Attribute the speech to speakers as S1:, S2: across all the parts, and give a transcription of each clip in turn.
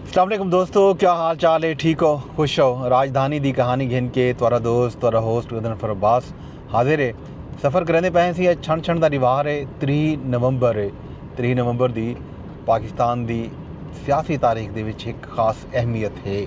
S1: السلام علیکم دوستو کیا حال چال ہے ٹھیک ہو خوش ہو راجدھانی دی کہانی گھن کے تورا دوست تورا ہوسٹ گدن فر عباس حاضر ہے سفر کرنے پہن سی اج چھن چھن دا ریوار ہے تری نومبر ہے تری نومبر دی پاکستان دی سیاسی تاریخ دے وچ ایک خاص اہمیت ہے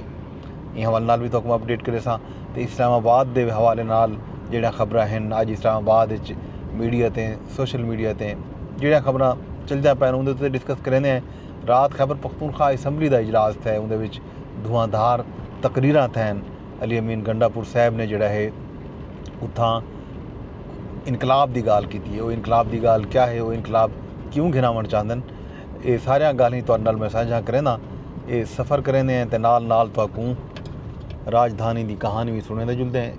S1: یہ حوالے نال بھی تو کم اپڈیٹ کرے سا تے اسلام آباد دے حوالے نال جیڑا خبرہ ہیں آج اسلام آباد اچ میڈیا تے سوشل میڈیا تے جیڑا خبرہ چل جا پہن اندھے تو ڈسکس کرنے ہیں رات خیبر پختونخوا اسمبلی دا اجلاس تھئے اوندے وچ دھواں دھار تقریراں تھئن علی امین گنڈا پور صاحب نے جیڑا ہے اتھاں انقلاب دی گال کیتی ہے او انقلاب دی گال کیا ہے او انقلاب کیوں گھناون چاہندن اے ساریاں گالیں تہاڈے نال میں سانجھا کرینداں اے سفر کریندے ہیں تے نال نال تہاکوں راجدھانی دی کہانی بھی سنیں دے جلدے ہیں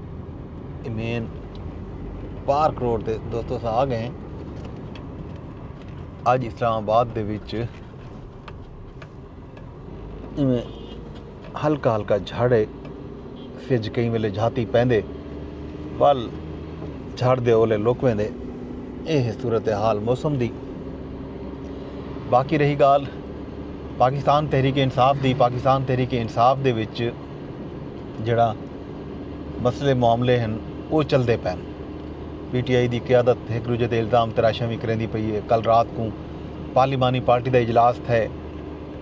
S1: امین پارک روڈ تے دوستو سا آ گئے ہیں اج اسلام آباد دے وچ ایویں ہلکا ہلکا جھڑ ہے سج کئی ویلے جھاتی پیندے ول جھڑ دے اولے لک ویندے اے ہے صورت حال موسم دی باقی رہی گال پاکستان تحریک انصاف دی پاکستان تحریک انصاف دے وچ جڑا مسئلے معاملے ہیں وہ چلتے پین پی ٹی آئی دی قیادت ہک ڈوجھے تے الزام تراشیاں وی کریندی پئی اے، کل رات کوں پارلیمانی پارٹی دا اجلاس تھئے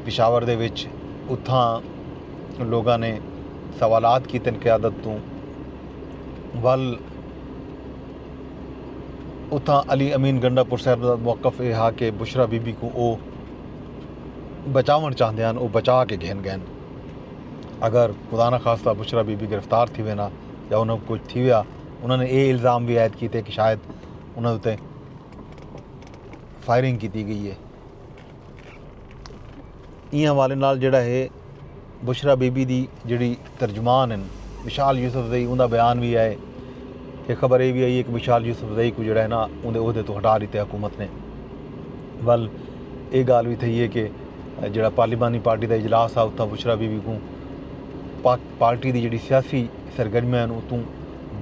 S1: پشاور دے وچ اتھاں لوگاں نے سوالات کیتن قیادت توں ول اتھاں علی امین گنڈا پور صاحب دا موقف اے ہا کہ بشرا بی بی کوں او بچاون چاہندے ہن او بچا کے گھن گئن اگر خدا نخواستہ بشرا بی بی گرفتار تھیوے نا یا انہاں کوں کچھ تھیویا انہاں نے اے الزام وی عائد کیتے کہ شاید انہاں اتے فائرنگ کیتی گئی اے۔ ایں حوالے نال جیڑھا ہے بشرا بی بی دی جیڑھی ترجمان ہن مشال یوسف زئی اوندا بیان وی آئے کہ خبر اے وی آئی اے کہ مشال یوسف زئی کو جیڑھا ہے نا اوندے عہدے تو ہٹا ڈیتے حکومت نے ول اے گال وی تھئی اے کہ جیڑھا پارلیمانی پارٹی دا اجلاس ہا اتھاں بشرا بی بی کوں پاک پارٹی دی جیڑھی سیاسی سرگرمیاں ہن اتوں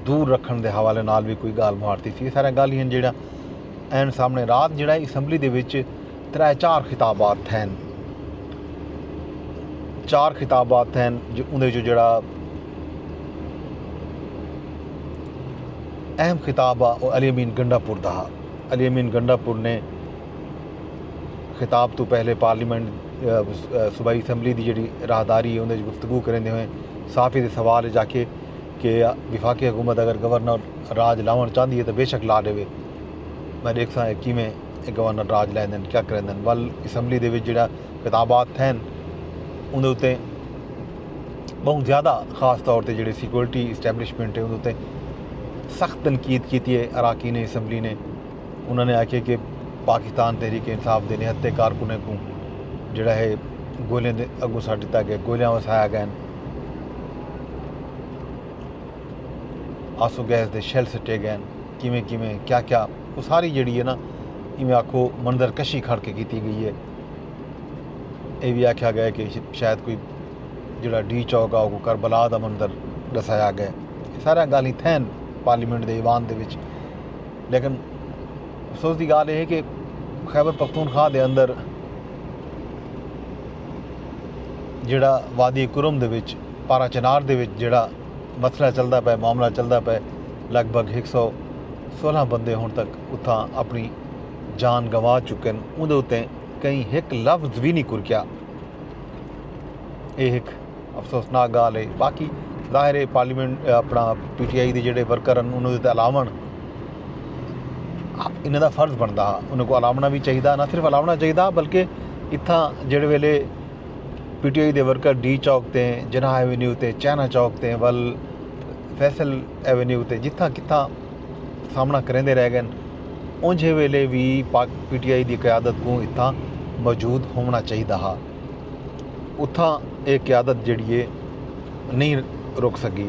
S1: دور رکھݨ دے حوالے نال وی کوئی ڳالھ مہاڑ تھیسی اے ساریاں ڳالھیں ہن جیڑھیاں این سامݨے رات جیڑھا اے اسمبلی دے وچ ترے چار خطابات تھئن چار خطابات تھئن جو اوندے وچوں جیڑھا اہم خطاب ہا او علی امین گنڈا پور دا ہا علی امین گنڈا پور نے خطاب تو پہلے پارلیمنٹ صوبائی اسمبلی دی جڑی راہداری ہے اندر گفتگو کریندے ہوئے صحافی دے سوال اچ آکھے کہ وفاقی حکومت اگر گورنر راج لاون چاہندی ہے تو بے شک لا ڈیوے میں ڈیکھساں اے کیویں اے گورنر راج لیندن کیا کریندن ول اسمبلی دے وچ جڑا خطابات تھین اندر تے بہت زیادہ خاص طور تے جڑے سیکورٹی اسٹیبلشمنٹ ہے اندر تے سخت تنقید کیتی ہے اراکین اسمبلی نے انہاں نے آکھیے کہ پاکستان تحریک انصاف دے نہتے کارکنیں کوں جڑا ہے گولیاں دے اگوں سٹ ڈتا گئے گولیاں وسایا گئے آسو گیس دے شیل سٹے گئے کیویں کیویں کیا کیا وہ ساری جڑی ہے نا ایویں آکھو منظر کشی کھڑ کے کیتی گئی ہے یہ بھی آکھیا گیا کہ شاید کوئی جڑا ڈی چوک آ وہ کربلا دا منظر دسایا گئے سارا گالیں تھین پارلیمنٹ دے ایوان دے وچ لیکن افسوس دی گال یہ ہے کہ خیبر پختونخوا دے اندر جڑا وادی کرم دے وچ پارا چنار دے وچ جڑا مسئلہ چلدا پے معاملہ چلدا پے لگ بھگ ایک سو سولہ بندے ہن تک اتھاں اپنی جان گنوا چکے ہیں اندر اتنے کہیں ایک لفظ بھی نہیں کرکیا یہ ایک افسوسناک گالھ ہے باقی ظاہر ہے پارلیمنٹ اپنا پی ٹی آئی دے جڑے ورکر ہیں انہوں نے الاوݨ انہوں دا فرض بنتا ہا انہوں کو الاونا بھی چاہیے نہ صرف الاونا چاہیے بلکہ اتھاں جڑے ویلے پی ٹی آئی دے ورکر ڈی چوک تے جناح ایونیو تے چائنا چوک تے ول فیصل ایونیو تے جتھاں کتھاں سامنا کریں دے رہ گئے انجھے ویلے بھی پاک پی ٹی آئی دی قیادت کو اتھاں موجود ہونا چاہیے ہا اتھاں اے قیادت جیڑھی اے نہیں رک سکی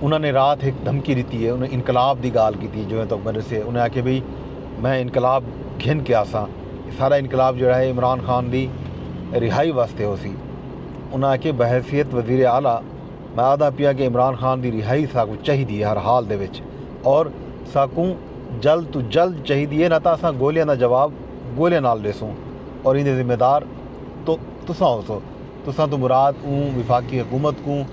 S1: انہاں نے رات ایک دھمکی دیتی ہے انہیں انقلاب دی گال کیتی جو تک میرے سے انہیں آکھے بھئی میں انقلاب گھن کے آساں سارا انقلاب جڑا ہے عمران خان دی رہائی واسطے ہو سی انہیں آکھے بحیثیت وزیر اعلیٰ میں آدھا پیا کہ عمران خان دی رہائی ساکو چاہی دی ہے ہر حال دے وچ اور ساکوں جلد تو جلد چاہی دی ہے نہ تاں اساں گولیاں دا جواب گولیاں نال ڈیسوں اور ایندے ذمہ دار تو تساں ہوسو تساں توں مراد اوں وفاقی حکومت کوں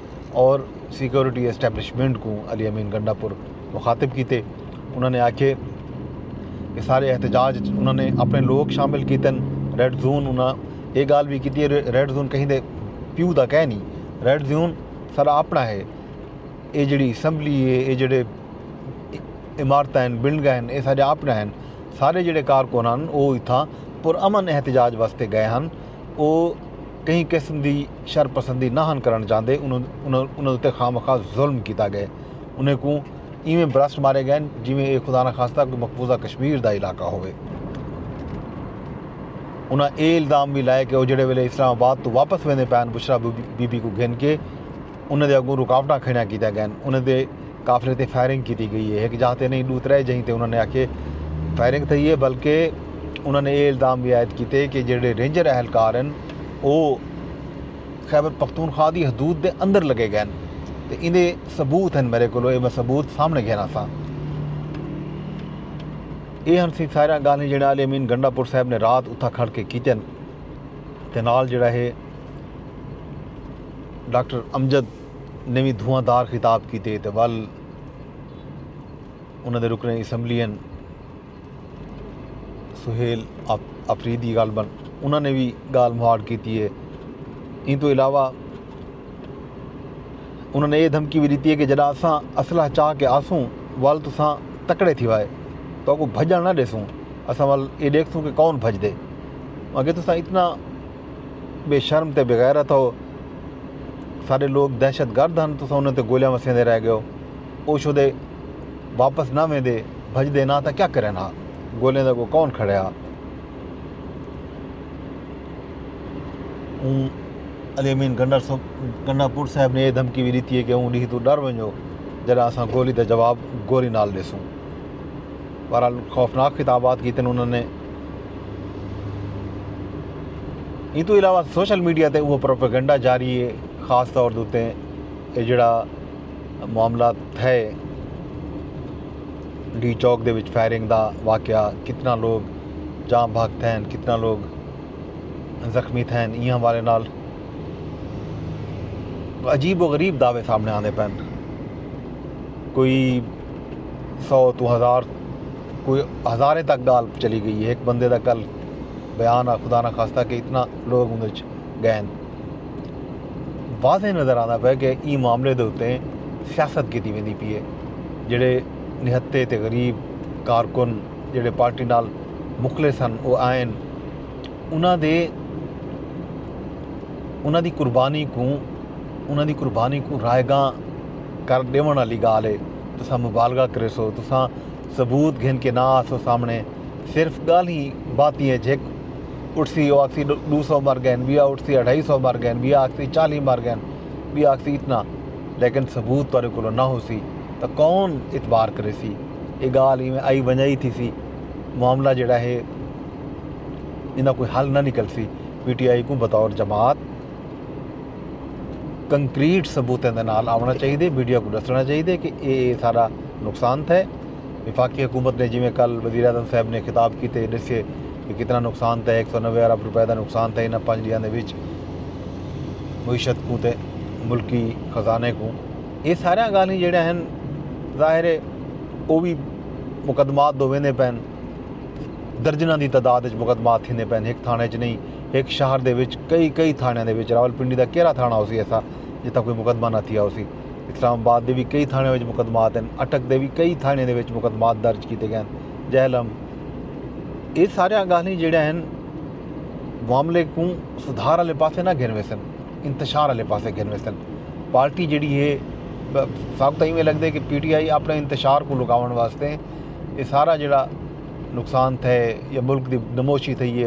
S1: اور سیکورٹی اسٹیبلشمنٹ کوں علی امین گنڈا پور مخاطب کیتے انہاں نے آکھے کہ سارے احتجاج اچ انہاں نے اپنے لوک شامل کیتن ریڈ زون انہاں اے گال وی کیتی ریڈ زون کہیں دے پیو دا کہہ نہیں ریڈ زون سارا اپنا ہے اے جڑی اسمبلی ہے اے جڑے عمارتاں ہن، بلڈنگاں ہن اے ساڈے آپݨے ہن، سارے جیڑھے کارکن ہن او اتھاں پر امن احتجاج واسطے گئے ہن او کہیں قسم دی شر پسندی نہ ہن کرݨ چاہندے انہاں اتے خواہ مخواہ ظلم کیتا ڳئے انہیں کوں ایویں برسٹ مارے ڳئے ہن جیویں اے خدا نخواستہ کوئی مقبوضہ کشمیر دا علاقہ ہووے انہاں اے الزام وی لائے کہ او جیڑھے ویلے اسلام آباد توں واپس ویندے پئے ہن بشریٰ بی بی کوں گھن کے انہاں دے اگوں رکاوٹاں کھڑیاں کیتیاں گئن، انہاں دے قافلے تے فائرنگ کیتی گئی اے، ہک جاہ تے نئیں ڈو ترے جہیں تے انہاں نے آکھیے فائرنگ تھئی اے بلکہ انہاں نے اے الزام وی عائد کیتے کہ جیڑھے رینجر اہلکار ہن او خیبر پختونخوا دی حدود دے اندر لگے گئن تے ایندے ثبوت ہن میڈے کولو اے میں ثبوت سامنے گھن آساں۔ اے ہن سی ساریاں گالھیں جیڑھیاں علی امین گنڈا پور صاحب نے رات اتھاں کھڑ کے کیتین تے نال جیڑھا ہے ڈاکٹر امجد نے وی دھواں دار خطاب کیتے تے ول انہاں دے رکن اسمبلی ہیں سہیل آفریدی غالبا انہاں نے بھی گال مہاڑ کیتی ہے ان تو علاوہ انہاں نے یہ دھمکی بھی دیتی ہے کہ جڑا اساں اسلحہ چاہ کے آسوں ول تساں تکڑے تھی وائے تو کو بھجن نہ ڈیسوں اساں ول یہ دیکھسوں کہ کون بھج دے اگر تساں اتنا بے شرم تے بغیرت ہو سارے لوگ دہشت گرد ہن تساں انہاں تے گولیاں وسیندے رہ گئے ہو او شدے واپس نہ ویندے بھج دے نہ تاں کیا کرے نہ گولیاں دا کو کون کھڑے ہا اون علی امین گنڈا صاحب گنڈا پور صاحب نے یہ دھمکی بھی دیتی ہے کہ اون ڈیہ تو ڈر ونجو جڑا اساں گولی دا جواب گولی نال دیسوں بہرحال خوفناک خطابات کیتے انہوں نے ایں توں علاوہ سوشل میڈیا تے اوہ پروپیگنڈا جاری ہے خاص طور تے یہ جڑا معاملہ تھے ڈی چوک دے وچ فائرنگ دا واقعہ کتنا لوگ جام بھاگ تھے کتنا لوگ زخمی تھے ان حوالے نال عجیب و غریب دعوے سامنے آندے پن کوئی سو تو ہزار کوئی ہزاریں تک گال چلی گئی ہے ایک بندے دا کل بیان آ خدا نہ خواستہ کہ اتنا لوگ اندر گئے واضح نظر آتا پہ کہ ای معاملے دے اتنے سیاست کی ویندی پی ہے جڑے نہتے تے غریب کارکن جڑے پارٹی نال مخلص ہن وہ آئن انہاں دے انہاں دی قربانی کو انہاں دی قربانی کو رائے گاں کر ڈیونڑ آلی گالھ اے تساں مبالغہ کریسو تساں ثبوت گھن کے نہ آسو سامنڑے صرف گالھیں باتیں اچ ہک اٹھسی او آکھسی ڈو سو مر گئن بیا اٹھسی اڈھائی سو مر گئن بیا آکھسی چالی مر گئن بیا آکھسی اتنا لیکن ثبوت تہاڈے کولو نہ ہوسی تاں کون اعتبار کریسی اے گالھ ایویں آئی ونجائی تھیسی معاملہ جیڑا ہے ایندا کوئی حل نہ نکلسی پی ٹی آئی کوں بطور جماعت کنکریٹ ثبوتیں دے نال آونا چاہیے دے میڈیا کو دسنا چاہیے دے کہ اے اے سارا نقصان تھے وفاقی حکومت نے جی میں کل وزیر اعظم صاحب نے خطاب کی تے دسے کہ کتنا نقصان تھے ایک سو نوے ارب روپے دا نقصان تھے انہاں پانچ ڈیاں دے وچ معیشت کو تے ملکی خزانے کو اے سارے گالیں جڑے ہیں ظاہر ہے او بھی مقدمات دو ویندے پین درجنہ دی تعداد وچ مقدمات تھیندے پین ایک تھانے چ نہیں ہک شہر دے وچ کئی کئی تھانڑیاں دے وچ راول پنڈی دا کیرھا تھانڑا ہوسی ایسا جتھاں کوئی مقدمہ نہ تھیا ہوسی اسلام آباد دے وی کئی تھانڑیاں وچ مقدمات ہن اٹک دے وی کئی تھانڑیاں دے وچ مقدمات درج کیتے گئے ہن جہلم اے ساریاں گالھیں جیڑیاں ہن معاملے کوں سدھار والے پاسے نہ گھن ویسن انتشار والے پاسے گھن ویسن پارٹی جیڑی ہے سب تائیں میں لگدے کہ پی ٹی آئی اپنے انتشار کو لکاون واسطے اے سارا جیڑا نقصان تھے یا ملک دی نموشی تھئی ہے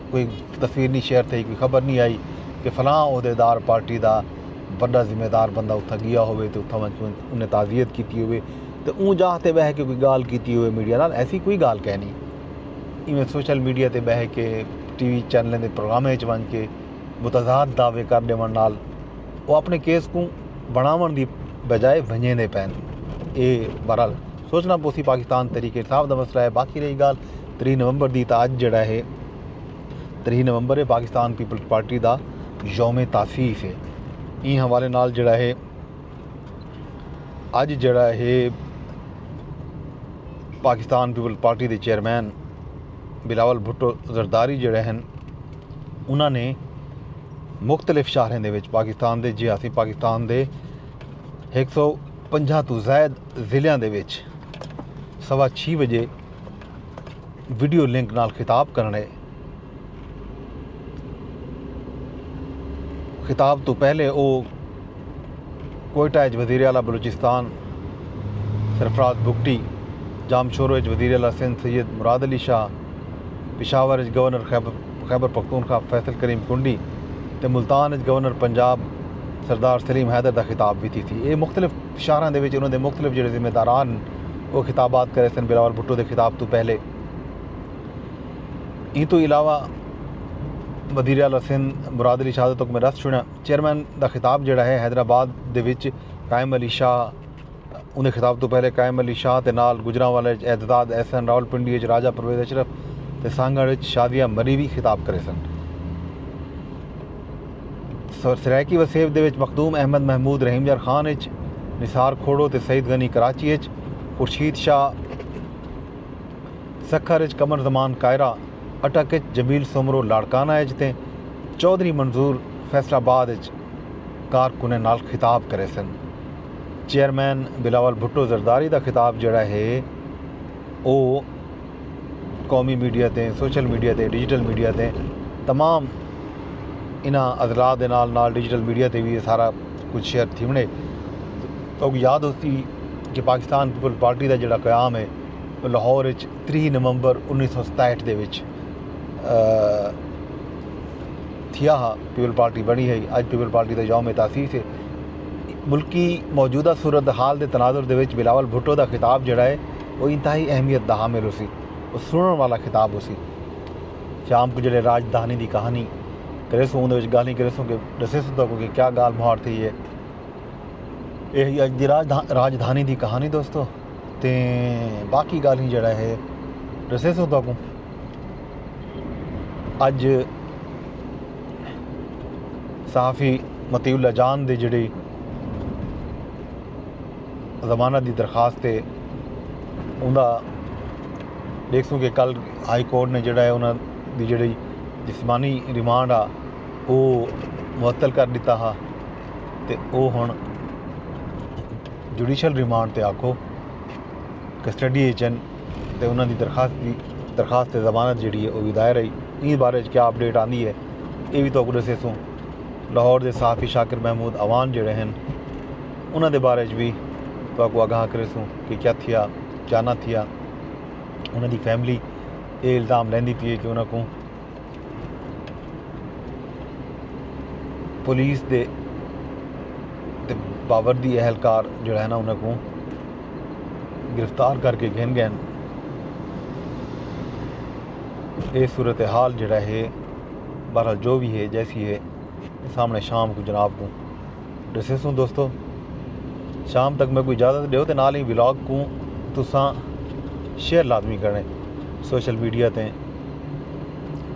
S1: کوئی تصویر نی شیئر تھئی کوئی خبر نی آئی کہ فلاں عہدے دار پارٹی دا وڈا ذمہ دار بندہ اتھاں گیا ہووے تے اتھاں ونج انہیں تعزیت کیتی ہووے تے اوں جاہ تے بہہ کے کوئی گالھ کیتی ہووے میڈیا نال ایسی کوئی گالھ کینی ایویں سوشل میڈیا تے بہہ کے ٹی وی چینلیں دے پروگرامیں اچ ونج کے متضاد دعوے کر ڈیون نال او اپنے کیس کوں بنڑاون دی بجائے ونجیندے پین اے بہرحال سوچنا پوسی پاکستان تحریک انصاف دا مسئلہ اے باقی رہی گالھ تریہہ نومبر دی تاں اج جیڑا ہے تریہہ نومبر ہے پاکستان پیپلز پارٹی دا یوم تاسیس ہے این حوالے نال جیڑا ہے اج جیڑا ہے پاکستان پیپلز پارٹی دے چیئرمین بلاول بھٹو زرداری جیڑے ہیں انہوں نے مختلف شہریں دے وچ پاکستان دے جی ہاں پاکستان دے ایک سو پنجا تو زائد ضلعوں دے وچ سوا چھ بجے ویڈیو لنک نال خطاب کرنے خطاب تو پہلے او کوئٹہ اچ وزیر اعلی بلوچستان سرفراز بگٹی جام شورو اچ وزیر اعلی سندھ سید مراد علی شاہ پشاور اچ گورنر خیبر پختونخوا فیصل کریم کنڈی تے ملتان اچ گورنر پنجاب سردار سلیم حیدر دا خطاب ویتی تھی اے مختلف شاہراں دے وچ انہاں دے مختلف جیڑھے ذمہ داران او خطابات کریسن بلاول بھٹو دے خطاب توں پہلے ایں توں علاوہ وزیر اعلی سندھ مراد علی شہادت تک میں رس چھوڑیاں چیئرمین دا خطاب جیڑھا ہے حیدرآباد دے وچ قائم علی شاہ انہاں دے خطاب توں پہلے قائم علی شاہ تے نال گجرانوالے وچ اعتزاز احسن راولپنڈی وچ راجہ پرویز اشرف تے سانگھڑ وچ شازیہ مری وی خطاب کریسن۔ سرائیکی وسیب دے وچ مخدوم احمد محمود رحیم یار خان اچ، نثار کھوڑو تے سعید غنی کراچی اچ، خورشید شاہ سکھر اچ، قمر زمان کائرہ اٹک اچ، جمیل سومرو لاڑکانہ اچ تے چوہدری منظور فیصل آباد اچ کارکناں نال خطاب کریسن۔ چیئرمین بلاول بھٹو زرداری دا خطاب جیڑھا ہے او قومی میڈیا تے سوشل میڈیا تے ڈیجیٹل میڈیا تے تمام انہاں اضلاع دے نال نال ڈیجیٹل میڈیا تے وی سارا کچھ شیئر تھیونے تو یاد ہوسی کہ پاکستان پیپل پارٹی دا جڑا قیام ہے لاہور اچ تری نومبر انیس سو ستاہٹھ دے وچ تھیا ہا پیپل پارٹی بنی ہے اج پیپل پارٹی دا یوم تاسیس ہے ملکی موجودہ صورت حال دے تناظر دے وچ بلاول بھٹو دا خطاب جڑا ہے او انتہائی اہمیت دا حامل ہوسی۔ او سنڑݨ والا خطاب ہوسی۔ شام کوں جیڑھے راج دھانی دی کہانی کریسوں اوندے وچ گالھیں کریسوں کہ ڈسیسوں تہاکوں کہ کیا گالھ مہاڑ تھئی اے۔ اے ہئی اج دی راج دھانی دی کہانی دوستو تے باقی گالھیں جیڑھا ہے ڈسیسوں تہاکوں۔ اج صحافی مطیع اللہ جان دی جیڑھی ضمانت دی درخواست تے اوندا ݙیکھسوں کہ کل ہائی کورٹ نے جیڑھا ہے انہاں دی جیڑھی جسمانی ریمانڈ آ او معطل کر ݙتا ہا تے او ہݨ جوڈیشل ریمانڈ تے آکھو کسٹڈی اچ ہن تے انہاں دی درخواست دی درخواست ضمانت جیڑھی ہے او وی دائر ہئی ایں بارے اچ کیا اپڈیٹ آندی ہے ایہ وی تہاکوں ݙسیسوں لاہور دے صحافی شاکر محمود اعوان جیڑھے ہن انہاں دے بارے وچ وی تہاکوں آگاہ کریسوں کہ کیا تھیا کیا نہ تھیا انہاں دی فیملی اے الزام لیندی پی ہے کہ انہاں کوں پولیس دے باوردی اہلکار جڑا ہے نا انہاں کوں گرفتار کر کے گھن گئے اے صورتحال جڑا ہے بہرحال جو وی ہے جیسی ہے سامنے شام کو جناب کو ڈسے سوں دوستو شام تک میں کو اجازت دیو تے نال ہی ولاگ کو تساں شیئر لازمی کرنے سوشل میڈیا تے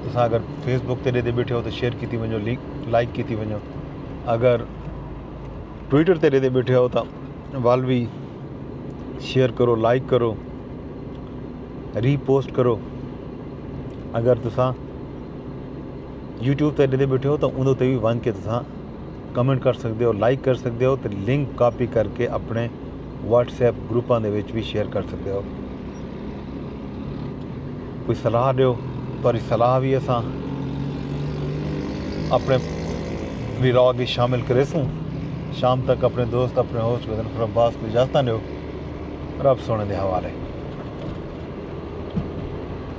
S1: تساں اگر فیس بک تے دے دے بیٹھے ہو تو شیئر کیتی ونجو لائک کیتی ونجو اگر ٹویٹر تے دے دے بیٹھے ہو تو وال بھی شیئر کرو لائک کرو ری پوسٹ کرو اگر تساں یوٹیوب تے ݙیندے بیٹھے ہو تاں اون تے وی ونج کے تساں کمنٹ کر سکدے ہو لائک کر سکدے ہو تے لنک کاپی کر کے اپنے واٹس ایپ گروپاں دے وچ وی شیئر کر سکدے ہو کوئی صلاح ݙیو تہاݙی صلاح وی اساں اپنے ویلاگ وچ شامل کریسوں شام تک اپنے دوست اپنے ہوسٹ بدن خرم باس کو اجازت ݙیو رب سونے دے حوالے